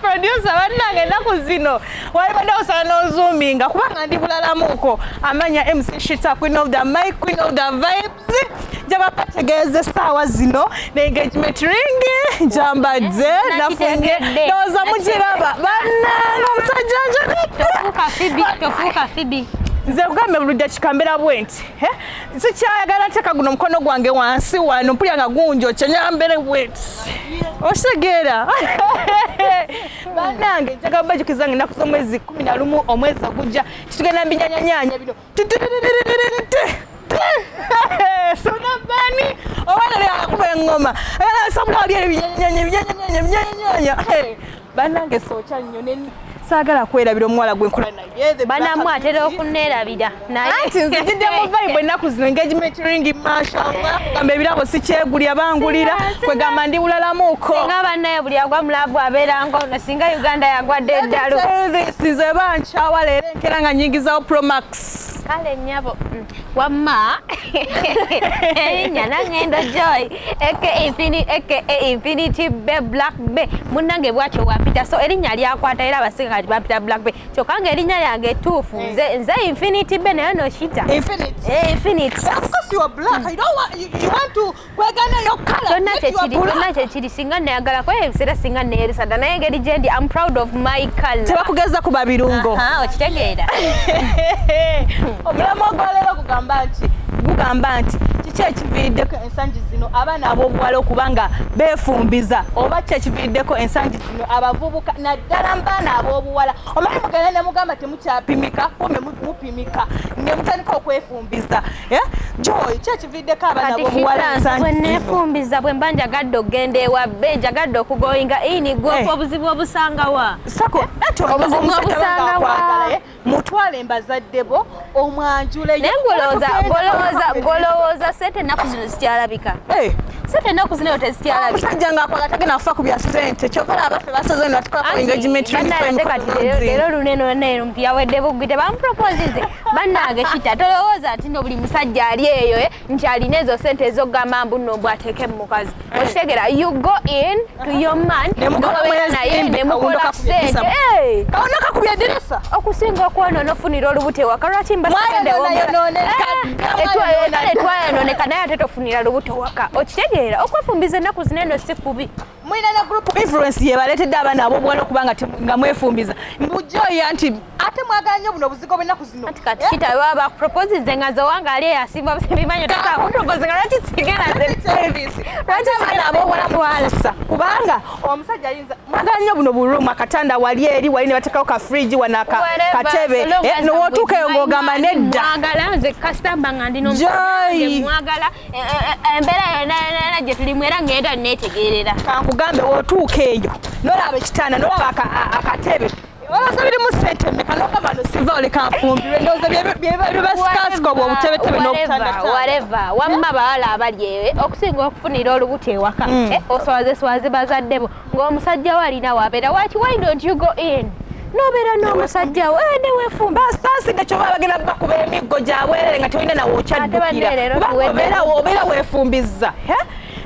producer bannange ennaku zino walibadde osala n'ozuuminga kubanga ndi bulalamuko amanya mc shita queen of the mic queen of the vibes njaba bategeeza essaawa zino ne engagement ring njambadde eh, nafunye ndowooza mugiraba bannange omusajja njagade nze kugambe buli dakika mbeera bwenti eh? sikyayagala teeka guno omukono gwange wansi wano mpulira nga gunjo kyenyambere wet okitegeera banange njaga bajukiza nga ennaku z'omwezi kumi na lumu omwezi ogujja titugenda mbinyanyanyanya bino sonabani owanalea kuba engoma alasabula wali ebinyanyanya ebinyanyanya ebinyanyanya banange sookya nnyo ne saagala kwerabira omuwala gwe nkola naye banamwe atera okuneerabira naye anti nzijidde mu vibe ennaku zino engagement ring mashallah gamba ebirabo sikyegulya bangulira kwegamba ndi bulalamuko singa bannaye buli agwa mulabu abeera ngono singa uganda yagwadde eddalu nze bankyawa leero enkera nga nyingizawo promax kale nyabo mm. wamma erinya nangendo joy aka infinity bay black bay munange bwatyo wampita so erinya lyakwata era abasinga kati bampita black bay kyokka nga erinya yange etuufu mm. nze infinity bay nayo noshita infinity eh, kyonna kyekiri kyonna kyekiri singa nayagala kwaye ebiseera singa neyerisada naye engeri gyendi am proud of my color tebakugeza kuba birungo okitegeera omulamu ogwaleero kugamba nti gugamba nti kiki ekiviiriddeko ensangi zino abaana ab'obuwala okuba nga beefumbiza oba ki ekiviiriddeko ensangi zino abavubuka naddala mbaana ab'obuwala omanyi mugenda ne mugamba temukyapimika kumbe mupimika ne mutandika okwefumbiza eh? joy kividdeko abaana bomuwala ensangi bwenefumbiza bwe mba njagadde okugenda ewabbe njagadde okugoyinga ini gwofa eh. obuzibu obusangawa obuzibu obusangawa mutwale mbazadde bo omwanjule naye ngolowooza sente ennaku zino zikyalabika eh. sente ennaku zino yo tezikyalabika omusajja ngaakola tagenda kufa ku bya sente kyokola abaffe basaze natikwako engagement leero luneno nero mpiyaweddebugwi tebamuproposize bannange kita tolowooza nti no buli musajja ali eyo eh, nti alina ezo sente ezokugamba mbu no mbu ateeke mu mukazi eh. okitegera you go in to your man naye nemukola kusente eh. kakubya edirisa okusinga okwona onofunira olubuto ewaka lwaki mbaetwayononeka naye ate tofunira lubuto waka okitegeera okwefumbiza ennaku zino eno si kubi mulina ne group influence yebaletedde abaana abobuwala okuba nga mwefumbiza mbujoya nti ate mwagala nyo buno obuzigo bwennaku zino kati kati eh? kita baba bakuproposize nga zowanga ali eyasimba busibimanyo takakupropoze nga lwaki kigerazerwaki abaana abobuwala mwalisa kubanga omusajja ayinza mwagala nyo buno buroom akatanda wali eri wali ne bateekawo ka fridge wana katebe eh, nowotuuka eyo ng'ogamba nedda mwagala nze kasitamba nga ndino mwagala Eh, eh, eh, embeera yonanana gye tulimu era ngenda neetegeerera kankugambe wotuuka eyo nolaba ekitanda nolaba akatebe olowooza birimu sente meka nogamba nosiva olekanfumbirwe ndowooza byebasikasika obwo obutebetebe nobutandawareva wamma bawala abali ewe okusinga okufunira olubuto ewaka mm. oswazeswaze bazaddebo ng'omusajja we alina wabeera waki why don't you go in nobeera n'omusajja we eh, newefumba basaaside kyoba bagenda bakuba emiggo gyabwerere nga tolina nawe okyaddukiraobeera obeera wefumbizza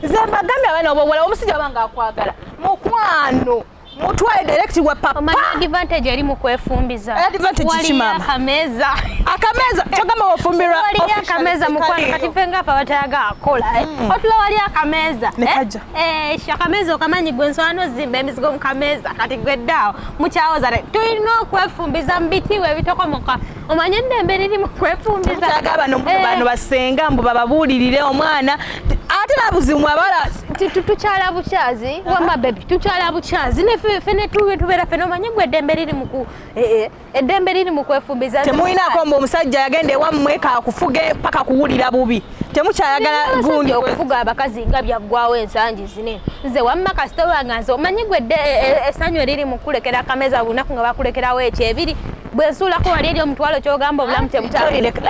nze mbagambye abaana obowola omusajja wabanga akwagala mukwano mutwale direct wa papa omanya advantage eri mu kwefumbiza eh, advantage ki mama akameza akameza kyogamba wafumbirwa wali akameza mukwano kati fenga apa batayaga akola eh? mm. otula wali akameza nekaja eh? Eh, shakameeza okamanyi gwe nswala nozimba emizigo mukameeza kati gwe ddaawo mukyawoza tulina okwefumbiza mu bitiibwa ebitokomoka omanye eddembe liri mu kwefumbizaagabano eh. basenga mbu bababuulirire omwana ate nabuzimu abala tukyala bukyazi wama bebi tukyala bukyazi nefe netubeera fena omanye gwe eddembe liri muku eh, eddembe liri mu kwefumbiza temulinaako mbu omusajja yagenda ewammwe kakufuge paka kuwulira bubi temukyayagala gundi okufuga abakazi nga byaggwawo ensangi zine nze wamma kasita wange nze omanyi gwe dde e, e, esanyu eriri mu kukulekera akameza buli lunaku nga bakulekerawo ekyo ebiri bwe nsuulako wali eri omutwalo kyogamba obulamu tebutalireka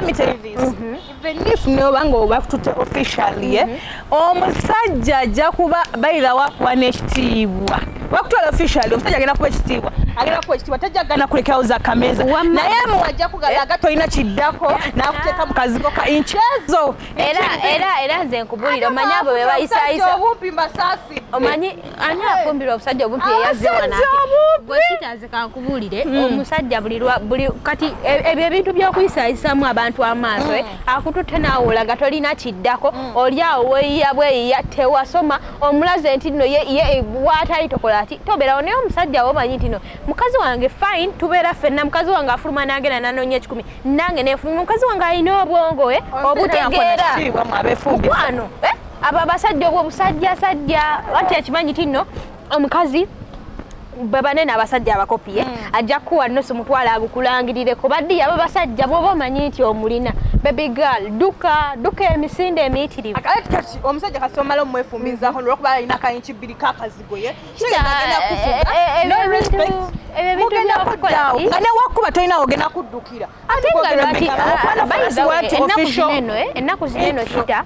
Venif noba nga obakutute officially eh? mhm. omusajja ajja kuba bayira wakuwa n'ekitiibwa wakutwala officially omusajja agenda kuba ekitiibwa agenda kuwa ekitiibwa tajja kugana kulekerawo za kameza naye mu ajja kugalaga eh? tolina kiddako eh? n'akuteeka mu kazigo ka inchezo era era era nze nkubulira omanyi abo bebayisayisa omanyi ani afumbirwa obusajja obumpi eyazze wanati gwe kitaze kankubuulire hmm. omusajja buli kati e, ebyo ebintu by'okuyisayisaamu abantu amaaso eh, hmm. akututte naawulaga tolina kiddako hmm. oli awo weyiya bweyiya tewasoma omulaze nti no ye waatali tokola ati tobeerawo naye omusajja wo omanyi nti no mukazi wange fine tubeera fenna mukazi wange afuluma nagenda nanoonya ekikumi nange nefuluma mukazi wange alina obwongo eh, obutegeera mukwano eh? abo abasajja obwo musajja sajja anti akimanyi tinno omukazi babane n'abasajja abakopiye mm. ajja kuwa nno simutwala agukulangirire ku baddiya abo basajja bwoba omanyi nti omulina baby girl duka duka emisinde emiyitirivu kati omusajja kasi omala omwefumbizako mm. nolwokuba alina kayinki bbiri kakazigoye ebyo bintu byokukola nga newakkuba tolina ogenda kuddukira ate nga lwaki ennaku zino eno kita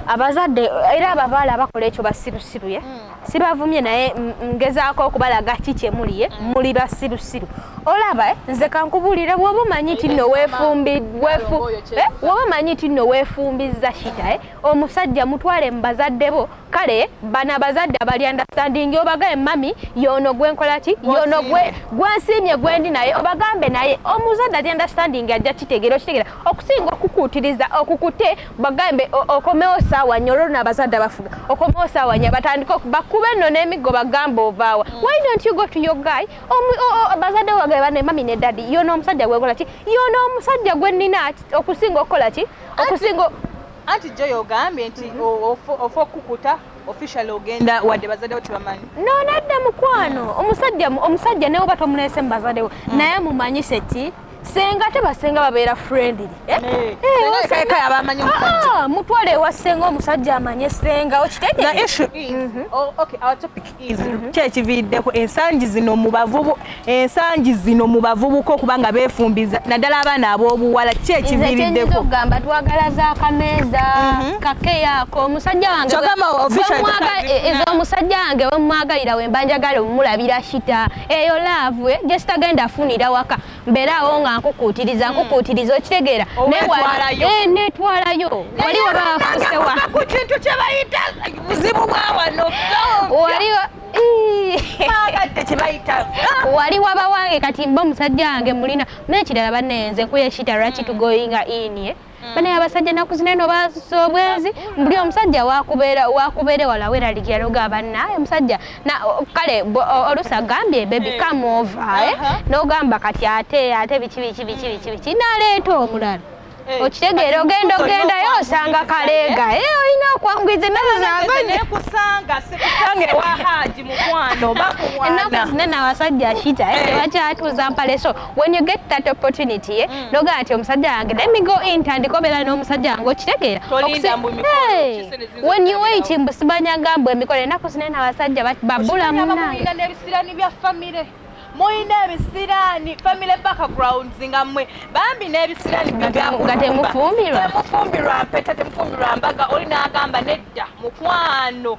abazadde era ababaala abakola ekyo basirusiru ye hmm. sibavumye naye ngezaako okubalaga ki kyemuliye hmm. muli basirusiru olaba eh, nze kankubulire woba omanyi nti no woba omanyi nti no weefumbizza shita eh, omusajja mutwale mu bazadde bo kale bana abazadde abali understanding obagaye mami yono gwenkola ki yono gwe gwensiimye gwendi naye obagambe naye omuzadde ali understanding ajja kitegera okitegera okusinga okukuutiriza okukute bagambe okomewo saawa nyo olwo nabazadde abafuga okomewo saawa nyo batandika bakube nno n'emiggo bagambe ovaawa mm. why don't you go to your guy abazadde obagaye bane mami ne dadi yono omusajja gwenkola ki yono omusajja gwenina okusinga okukola ki okusinga Anti Joy ogambye nti mhm. ofa okukuta officially ogenda wadde bazadewo tebamanyi no nadda mukwano mm. omusajja omusajja newoba tomuleese mu bazadewo mm. naye mumanyise ti senga ate basenga babeera friendly eh? Eh, eh, ah, mutwale ewa senga omusajja amanye senga okitegeera Mhm. kyekiviiriddeko ensangi zino mubavubu ensangi zino mu bavubuka okuba nga beefumbiza naddala abaana ab'obuwala kyekiviiriddeko ogamba twagala za kameeza mhm. kakeyaako omusajja wange eh, ezo omusajja wange wemwagalira wemba njagala omulabira shita eyo laavu eh, gyesitagenda afunira waka mbeeraawo nga nkukuutiriza hmm. nkukuutiriza okitegeera netwalayo eh, wali wabafusewa ku kintu kye bayita buzibu bwa wano wali wali waba wange kati mba omusajja wange mulina naye ekirala banenze nkuyeshita lwaki hmm. tugoyinga inie mm. bana abasajja nakuzina eno baasusa obwenzi mbuli omusajja wakubeera wakubeere wala weraligya loga banna omusajja kale oluusi agambye bebi come over eh? uh-huh. nogamba kati ate ate biki biki biki biki biki naleeta omulala Eh, okitegeera ogenda ogendayo osanga kaleega eh, olina okwangwiza enaku zina nawasajja shita eh, tebakyatuuza mpaleso when you get that opportunity ye eh, mm. noga ati omusajja wange let me go in tandika obeera n'omusajja wange okitegeera when you wait mbu simanyanga mbu emikolo enaku zino ena abasajja babula munange n'ebisirani bya famire mulina ebisiraani family backgrounds nga mwe bambi n'ebisiraani temufumbirwa mpeta temufumbirwa mbaga oli n'agamba nedda mukwano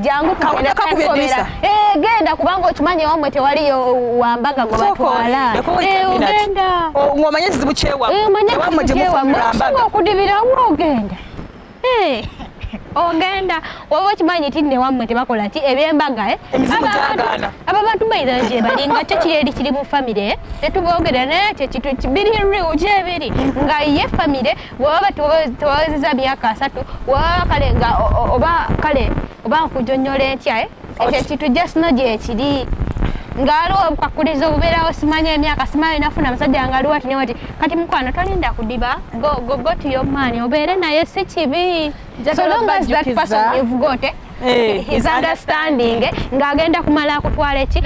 jangu tugenda kukomera eh genda kubanga okimanyi wamwe tewali wambaga ngo batwala eh ogenda oh, ngomanye zibu chewa eh manye wamwe je mufambaga okudibira wo ogenda eh ogenda waba okimanyi ti newammwe tebakola ki ebyembaga eh? aba bantu baidha gye bali nga kyo kiri eri kiri mu famire eh? tetuboogera naye kyekitu biri riu gyebiri nga ye famire webaba tewawezeza myaka asatu webaba kale nga oba kale oba nkujonyola entya eh? ekyo ekintu jasno gyekiri nga aliwo obukakuliza obubeerawo simanya emyaka simanya nafuna musajja nga aliwo atine wati kati mukwano tolinda kudiba gogotiyomaani obeere naye si kibi so long as that person you've got eh? Eh, his understanding ng'agenda kumala akutwala eki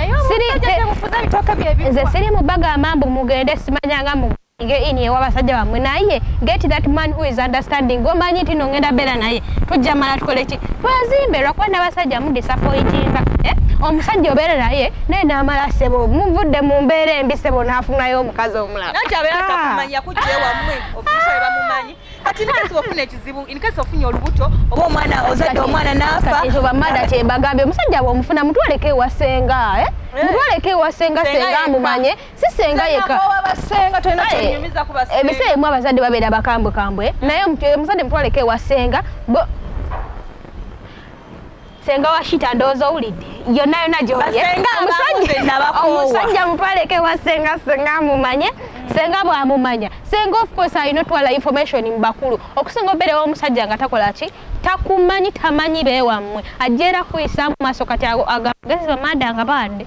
nze siri mu baga amambu mugende simanyanga mu nge ini ewa basajja bamwe naye get that man who is understanding gomanyi tino ngenda bera naye tujja mala tukole ki twazimbe lwakuba nabasajja mu disappointinga eh? omusajja obeera naye naye namala sebo muvudde mu mbeera embi sebo nafunayo omukazi omulala kati nikasi wafuna ekizibu inkasi ofunye olubuto oba omwana ozadde omwana nafa ezo bamada kyebagambye omusajja bwomufuna mutwaleko ewasenga eh? eh? mutwaleko ewasenga senga amumanye sisenga yeka ebiseera emu abazadde babeera bakambwe kambwe naye omuzadde mutwaleko ewa senga senga washita ndowooza owulidde yonna yonna gyomusajja mutwaleko ewa senga senga amumanye senga bwamumanya senga ofcourse alina otwala information mu bakulu okusinga obeerewo omusajja nga takola ki takumanyi tamanyi beewammwe ajja era kuyisa mu maaso kati agagezi bamada nga bande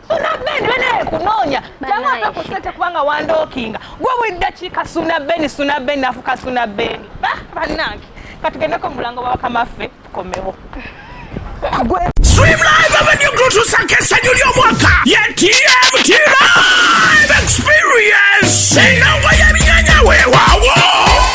suna beni benaye kunoonya jamwaka ku sente kubanga wandookinga gwe buli ddakiika suna beni suna beni afuka suna beni bannange katugendeko mulango bawakamaffe tukomewo gwe Swim Live Avenue Grotus akesa juli omwaka ya TMT Live Experience enongo y'ebinyanya wewawo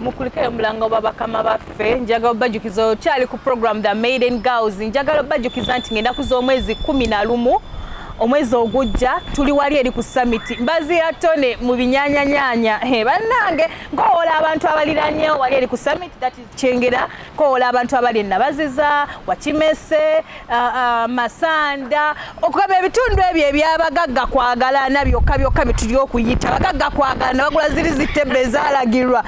mukulike omulanga oba bakama baffe njagala obajukiza okyali ku program the maiden girls njagala obajukiza nti ngenda kuza omwezi kumi na lumu omwezi ogujja tuli wali eri ku samiti mbazi ya tone mu binyanyanyanya bannange nkowola abantu abaliranyewo wali eri ku samiti kyengera kowola abantu abali enabaziza wakimese masanda okugaba ebitundu ebyo ebyabagagga kwagalana byokka byokka byetuli okuyita bagagga kwagalana bagula ziri zitebbe ezalagirwa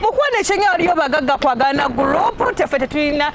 mukwona ekyenga waliyo bagagga kwagalana gurupu tefe tetulina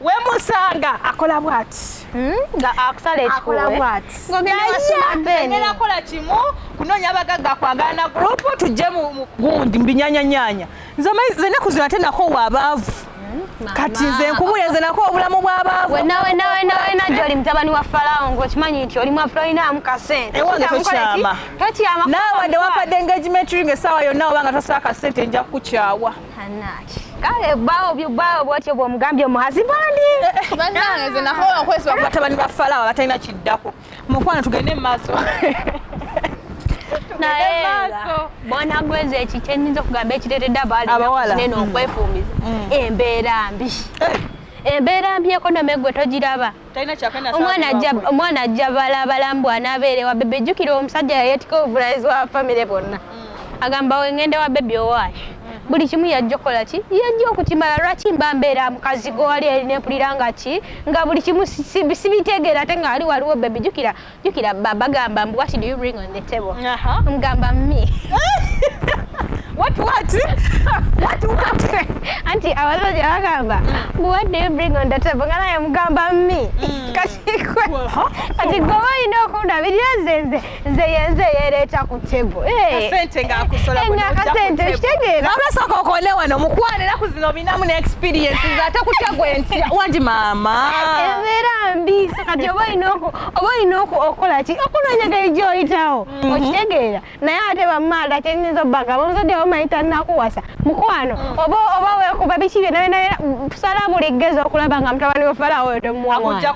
wemusanga akola bwati hmm? nga akusala ekikuwe akola kimu kunoonya abagagga kwagala na gurupu tujje mu gundi mu binyanyanyanya nze enaku zino ate nako wabaavu hmm? kati nze nkubulira nze nako obulamu bwabaavu wenawenawenawenawena gyoli mutabani wa falawo ngaokimanyi nti oli mwafulolinamu kasente ewange tokyama tokyama naawe wadde wampadde engagement ring essaawa yonna obanga tosala kasente nja kukukyawa Anaki. Kale bawo byo bawo bwatyo bwo mugambye omuhazi bandi. Eh, eh, Banange ze naho okweswa kwa tabani ba falawa batalina kiddako. Mukwana tugende maso. Naye maso. Bona gweze ekiche ninzo kugamba ekirete dabali. Abawala. Neno mm. okwefumiza. Mm. Embeera mbi. Eh. Embeera mbi ekonomi gwe togiraba. omwana ajja omwana ajja balabala mbu anabeere wa bebe jjukira omusajja yayetika obuvunanyizibwa wa famire bonna mm. agamba wengende wa bebi owaayo mm. buli kimu yajja okukola ki yajja okukimala lwaki mba mbeera mukazi gwewali eri nempulira nga ki nga buli kimu sibitegeera ate nga ali waliwo bebi jjukira jukira baba gamba mbu what do you bring on the table mgamba me what what what what anti abazazi abagamba mbu what do you bring on the table nga naye mugamba me mm. kati kwe kati gwe olina okundabirira nze nze nze yenze yereeta ku table akasente kitegeera abasooka okole wano mukwano era ku zino binamu ne experiences ate kutya gwe ntya wangi maama embeera mbi kati oba olina oba olina okukola ki okunoonya geri gy'oyitawo mhm. okitegeera naye ate bamaala kyenyinza obbagamba omuzadde wamayita nakuwasa mukwano mhm. oba oba wekuba biki byona byona tusala buli gezo okulaba nga mutabani wefalawo oyo tomuwawona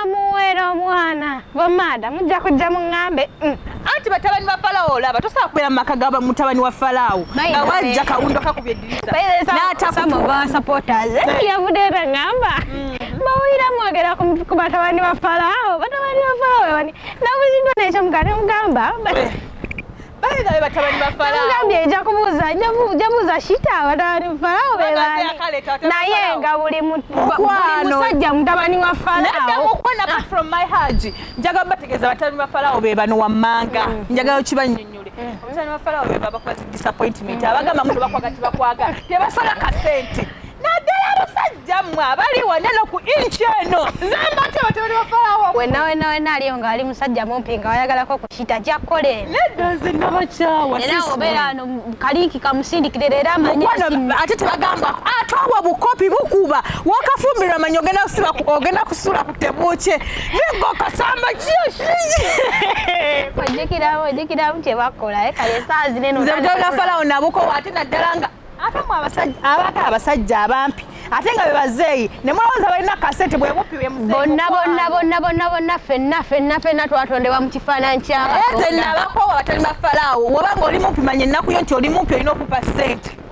amuweera omwana bamaada mujja kujja muŋambe mm. anti batabani ba falawo olaba tosobola kubeera mu maka ga mutabani wa falawo nga wajja kawundo kakubye eddirisa n'atakuwa supporters eh? yavudeera ŋamba mm. bawulira mwogera ku batabani ba falaawo batabani ba falaawo bani nabuziddwa nekyo mugane mugamba mugambye eja kubuuza jabuuza shita abatabani ba falaawo bebani naye nga buli musajja mutabani wa falaawojaga bategeeza batabani ba falaawo bebano wammanga mm. njagala okibanyonyo omusani wa falawo beba bakuba zi disappointment mm. abagamba muno bakwaga tibakwagala tebasala kasente naddala abasajja mmwe abali wonna no ku inki eno zambate batabani ba falawo wena wena wena aliyo nga ali musajja mumpi nga wayagalako okukita jakole nedozi nabakyawa era obeera ano kalinki kamusindikire leero amanyasimu ate tebagamba atwawa bukopi bukuba wakafumbirwa manyi ogenda kusiba ogenda kusula ku tebuukye niggo kasamba ojjukiramu ojjukiramu kye bakola eh, kale esaa zineno nze mutanga falawo nabukowo ate naddala nga abamu abako abasajja abampi ate nga bebazeeyi nemulowooza balina kasete bwebuppi bonna bonna bonna bonna bonna fenna fenna fenna twatondebwa mu kifaananyi kyabatenabakoowa batali bafalaawo wobanga oli mumpi manya ennaku yo nti oli mumpi olina okupa sente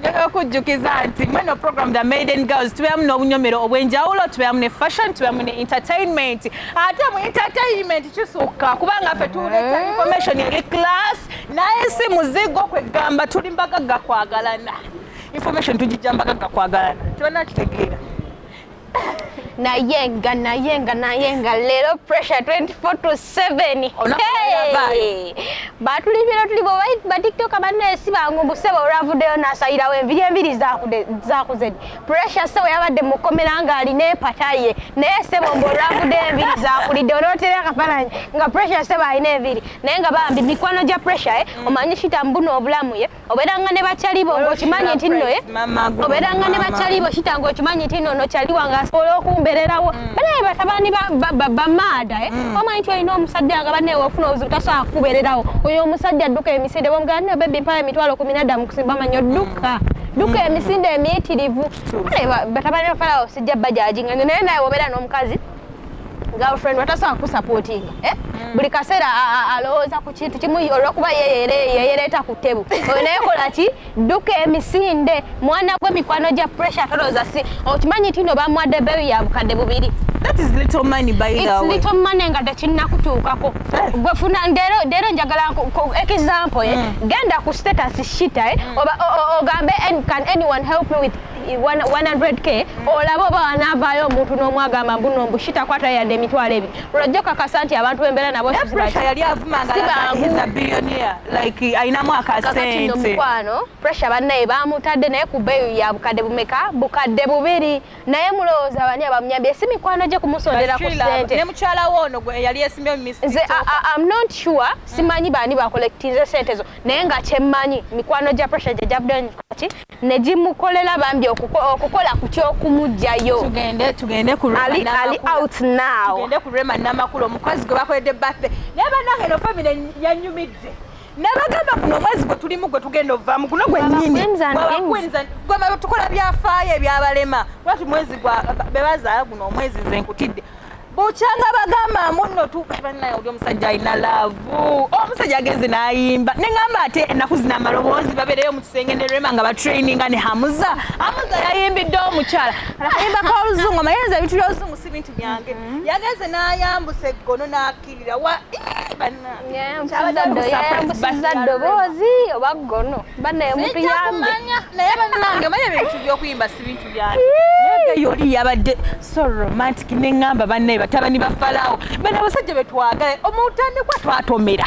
njagala okujjukiza nti mweno program the maiden girls tubeeramu n'obunyomero obw'enjawulo tubeeramu ne fashion tubeeramu ne entertainment ate mu entertainment kisukka kubanga ffe tuleta eh. information eri class naye si muzigo kwegamba tuli mbagagga kwagalana information tugijja mbagagga kwagalana tebanakitegeera nayenga nayenga nayenga leero pressure 24 to 7 batulibira tuli batiktoka banne si bangu mbusebo olwavuddeyo nasayirawo enviri enviri zakuzedi pressure sebo yabadde mukomera nga alina empata ye naye sebo mbu olwavuddeyo enviri zakulidde onotera akafananyi nga pressure sebo alina enviri naye nga bambi mikwano gya pressure eh, omanyi shita mbuno obulamu ye oberanga ne bakyali bo ng'okimanyi nti nno eh? oberanga ne bakyali bo kita ng'okimanyi nti nno nokyali wange asobola okumbererawo mm. banaye batabani bamaada eh? mm. omanyi nti olina omusajja nga banaye ofuna obuzibu tasobola kukubererawo oyo omusajja adduka emisinde bamugamba naye bebi mpala emitwalo kumi nadda mu kusimba manyi odduka duka mm. emisinde emiyitirivu batabani bafalawo sijja bajaji nga naye naye wobeera n'omukazi girlfriend watasobola kukusapootinga eh? mm. buli kaseera alowooza ku kintu kimu olwokuba yeyereeta ku tebu oyo naye kola ki dduka emisinde mwana gwe mikwano gya pressure tolowooza si okimanyi nti no bamwadde beeyi ya bukadde bubiri mane nga tekinnakutuukako eh. gwefuna leero njagala example eh? mm. genda ku status shita eh? mm. ogambe can anyone help me with 100k olaba oba wanavaayo omuntu n'omwagamba mbuno mbu shitakwata yadde emitwalo ebiri lwajja okakasa nti abantu bembeera nabo yali avumangaayinamu akasentmukwano pressure bannaye bamutadde naye ku beeyo ya bukadde bumeka bukadde bubiri naye mulowooza bani abamuyambye si mikwano gye kumusondera ku sente ne mukyala we ono gwe yali esimbye mu misi nze am not sure simanyi baani bakolekitize sente zo naye nga kyemmanyi mikwano gya pressure gye gyavudde ki ne gimukolela bambi okukola ku kyokumugyayo tugende tugende ku ali ali out now tugende ku Rema namakulu omukozi gwe bakoledde birthday naye banange no family yanyumidde nabagamba guno omwezi gwe tulimu gwe tugenda ovaamu guno gwenyini gwe tukola byafaayo ebyabalema lwaki mwezi gwa bebazaala guno omwezi nze nkutidde bukyanga bagamba munno tubannaye oli omusajja alina laavu omusajja agenze n'ayimba ne ŋamba ate ennaku zina amaloboozi babeereyo mu kisenge ne rema nga batraininga ne hamuza hamuza yayimbidde omukyala akayimba ka oluzungu amayenza ebintu by'oluzungu si bintu byange mm-hmm. yagenze n'ayambusa eggono n'akiri yayambusizza ddoboozi oba ggono banaye omuntu yambenaye banange manya ebintu byokuyimba si bintu byange yoli yabadde so romantic neŋamba banaye batabani bafalawo bana abasajja betwagala omutandikwa twatomera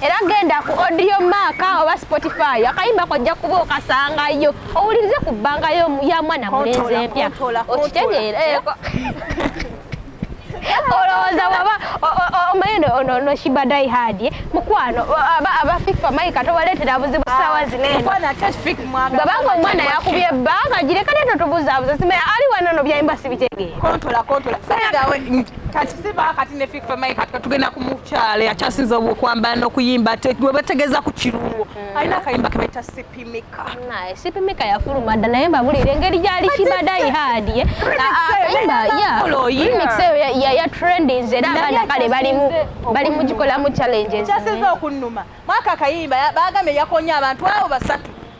era genda ku audio maaka oba spotify akayimba kojja kuba okasangayo owulirize ku bbanga ya mwana mulenzi empya okitegeera eh, olowooza waba omayino ono ono shibadai hadi eh? mukwano aba fifa mayi kati obaleetera buzibu ah, saawa zinenobabanga omwana yakubye ebbanga gireka neto tubuzaabuza simaya ali wano no byayimba sibitegeera kati siba kati ne Fik Family kati katugenda ku mukyale akyasinze okwambala n'okuyimba ate gwe bategeeza ku kirungo mm. alina akayimba ke bayita sipimika naye sipimika yafuluma dda naye mbabulire engeri gyali kibadayi haadi ye akayimba remix eyo ya trendings era abaana kale bali mu gikolamu challenges kyasinze okunnuma mwaka akayimba bagambye yakonya abantu abo basatu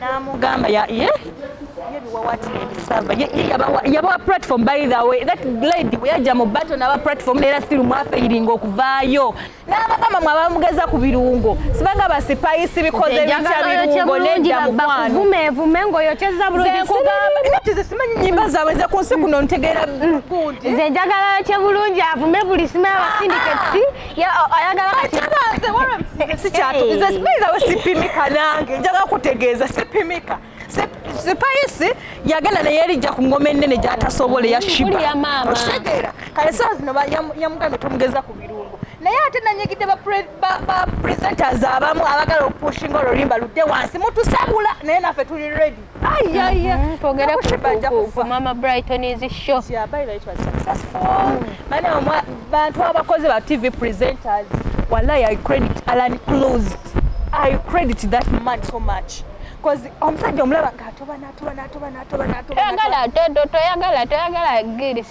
namugamba ye yebiwawati nebisava yabawa platform by the way that lady weyajja mu bato naba platform neera still mwafeiringa okuvaayo nabagamba mwe abamugeza ku birungo sibanga basipayisi bikoze bitya birungo nedda mukwanovumevuma ngaoyokyeza bulungizimanyi nyimba zaabwe nze ku nsi kuno ntegeera mm. nze njagala yokye bulungi avume buli simu abasindiketi sipimika nange njaga kutegeeza sipimika sipayisi yagenda naye erijja ku ngoma ennene gyatasobola eyashibakitegeera kale saa zino yamugambye tomugeza ku birungo naye ate nanyigidde ba presenters abamu abagala okupushinga olulimba ludde wansi mutusabula naye naffe tuli redi Mm-hmm. twogere ku mama brighton is show bantu abakozi ba tv presenters wallahi i credit alan closed i credit that man so much omusajja omulaba nga atoba natoba natoba natoba natoba eh, toyagala toyagala toyagala giri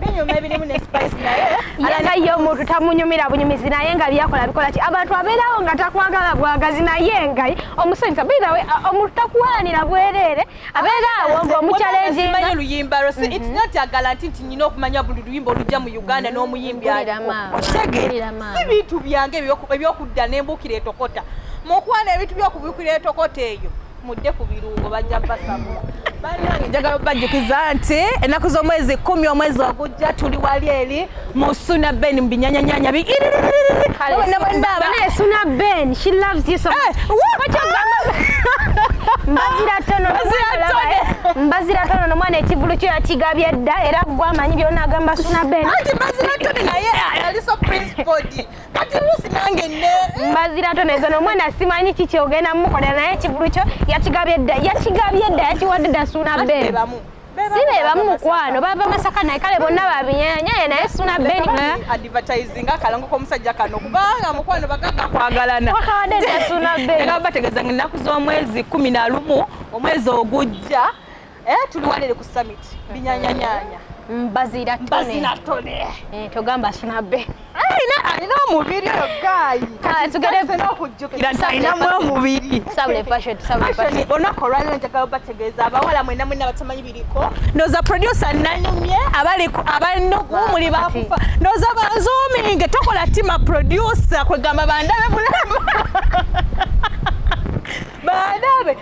binyuma ebirimu ne spice naye nga ye omuntu tamunyumira bunyumizi naye nga byakola bikola ki abantu abeerawo nga takwagala bwagazi naye nga omusanyusa baitha we uh, omuntu takuwalanira bwereere abeeraawo ngaomukyalenjimanyi oluyimba lwo si its not a garanti nti nyina okumanya buli luyimba olujja mu uganda n'omuyimbi alikotegeera si bintu byange ebyokudda n'embuukira etokota mukuwana ebintu byokubukira etokota eyo mudde ku birungo bajja basamu banange njagala obajjukiza nti ennaku z'omwezi kumi omwezi ogujja tuli wali eri mu suna ben mu binyanyanyanya bi suna ben she loves you so much mbazira tono mbazira tono nomwana ekivulu kyo yakigabye dda era gwamanyi byona agamba suna ben mbazira tono naye ali so principled kati lusi nange ne mbazira toneza nomwana simanyi kiki ogenda mukola naye kivulu kyo yakigabye dda yakigabye dda yakiwadde dda suuna bebe si be bamu mukwano bava masaka naye kale bonna babinyenyeye naye suna beniadvertisinga akalango komusajja kano kubanga mukwano bagamba kwagalana wakabadde nasuna beni nga bategeeza nga ennaku z'omwezi kumi na lumu omwezi ogujja Eh, tuli walere ku summit binyanyanyanya mbazira tone mbazira tone eh togamba sunabe alina alina omubiri oyo gayi kati tugere zeno kujjukira alina mu omubiri sabule fashion sabule fashion ona korali nja gawo bategeza abawala mwena mwena batamanyi biriko noza producer nanyumye abali abali no kumuli bakufa noza ba zooming tokola tima producer kwegamba bandabe bulama baadabe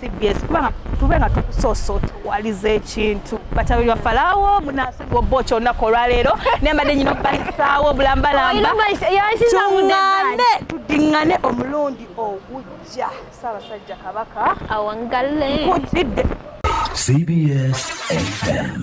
cbs kuba tube nga tukusoso tuwaliza ekintu batabi lwa falawo munansi gwobba okyo olunaku olwaleero nembadde nyina okubayisaawo obulambalambatungane tudingane omulundi ogujja saabasajja kabaka awangale nkutidde cbs fm